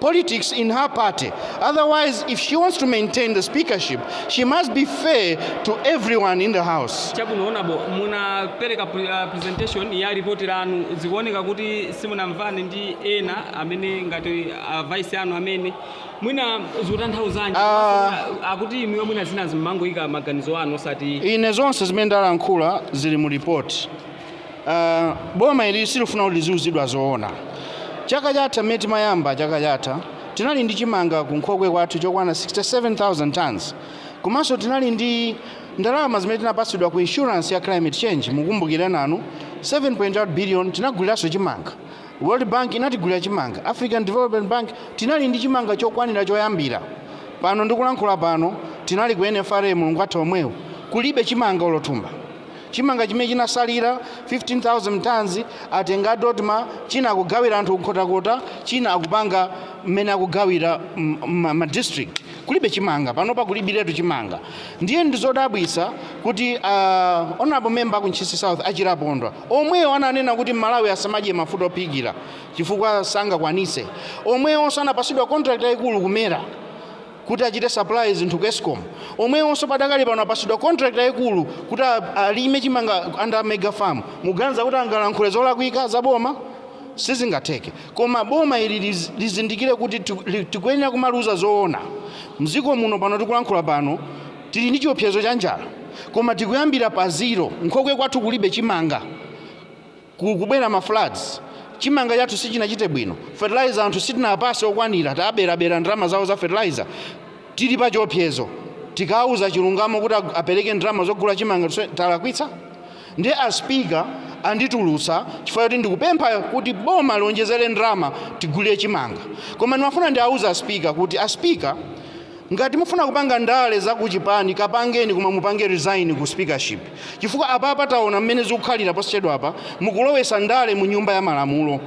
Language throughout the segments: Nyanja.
politics in her party. Otherwise, if she wants to maintain the speakership, she must be fair to everyone in the house. chabwino honourable munapereka pre- ah, presentation ya ripoti lanu zikuoneka kuti simunamvane ndi ena amene ngati a vice anu amene mwina zikutanthauzanji Ah. Mwina, akuti inuyo mwina zinazi mmangoika maganizo anu osati Ine zonse zimene ndalankhula zili mu report. Uh, boma ili silifuna kuti liziuzidwa zoona. Chaka chatha mmene timayamba chaka chatha tinali ndi chimanga ku nkhokwe kwathu chokwana 67000 tons komanso tinali ndi ndalama zimene tinapatsidwa ku insurance ya climate change mukumbukire nanu 7.8 billion tinaguliranso chimanga world bank inatigulira chimanga african development bank tinali ndi chimanga chokwanira choyambira pano ndikulankhula pano tinali ku nfra mulungu watha omwewu kulibe chimanga olo thumba Chimanga chimene chinasalira, 15,000 tonnes, atenga a Dodma, china akugawira anthu ku Nkhotakota, china akupanga mmene akugawira mma district. Kulibe chimanga, panopa kulibiretu chimanga. Ndiye ndizodabwitsa kuti a Honourable Member a ku Ntchisi South, a Chilapondwa, omwewo ananena kuti mMalawi asamadye mafuta ophikira chifukwa sangakwanitse, omwewonso anapatsidwa contract yaikulu ku mera. kuti achite supply zinthu ku escom omwewonso padakali pano apasidwa contract yayikulu kuti a- alime chimanga under mega farm muganiza kuti angalankhule zolakwika za boma sizingatheke koma boma ili liz- lizindikire kuti tiku- li- tikuyenera kumaliuza zoona mdziko muno pano tikulankhula pano tili ndi chiopsezo cha njala koma tikuyambira pa zero nkhokwe kwathu kulibe chimanga kubwera ma floods chimanga chathu sichinachite bwino, fertilizer anthu sitinawapase okwanira, taberabera ndalama zawo za fertilizer, tili pa chiopsezo. Tikawauza chilungamo kuti apereke ndalama zogula chimanga talakwitsa? Ndiye a speaker anditulutsa chifukwa choti ndikupempha kuti boma lionjezere ndalama tigulire chimanga. Koma ndimafuna ndiawuze a speaker kuti a speaker ngati mufuna kupanga ndale za kuchipani kapangeni koma mupange resign ku speakership. Chifukwa apapa taona mmene zikukhalira posachedwapa mukulowesa ndale mu nyumba ya malamulo.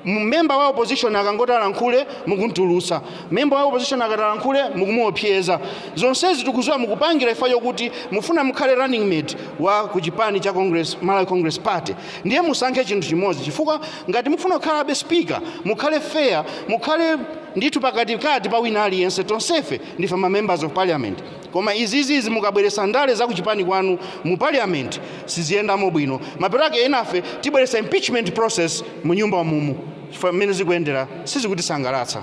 Member wa opposition akangoti alankhule mukumtulutsa. Member wa opposition akati alankhule mukumuopseza. Zonsezi tikuziwa mukupangira chifukwa chokuti mufuna mukhale running mate wa ku chipani cha Congress, Malawi Congress Party. Ndiye musankhe chinthu chimodzi chifukwa ngati mufuna kukhalabe speaker mukhale fair, mukhale ndithu pakatikati pa wina aliyense. Tonsefe ndife ma members of parliament. Koma izizi izi mukabweresa ndale za kuchipani kwanu mu parliament siziyendamo bwino mapeto ake enafe tibweresa impeachment process mu nyumba momuno chifukwa mmene zikuyendera sizikutisangalatsa.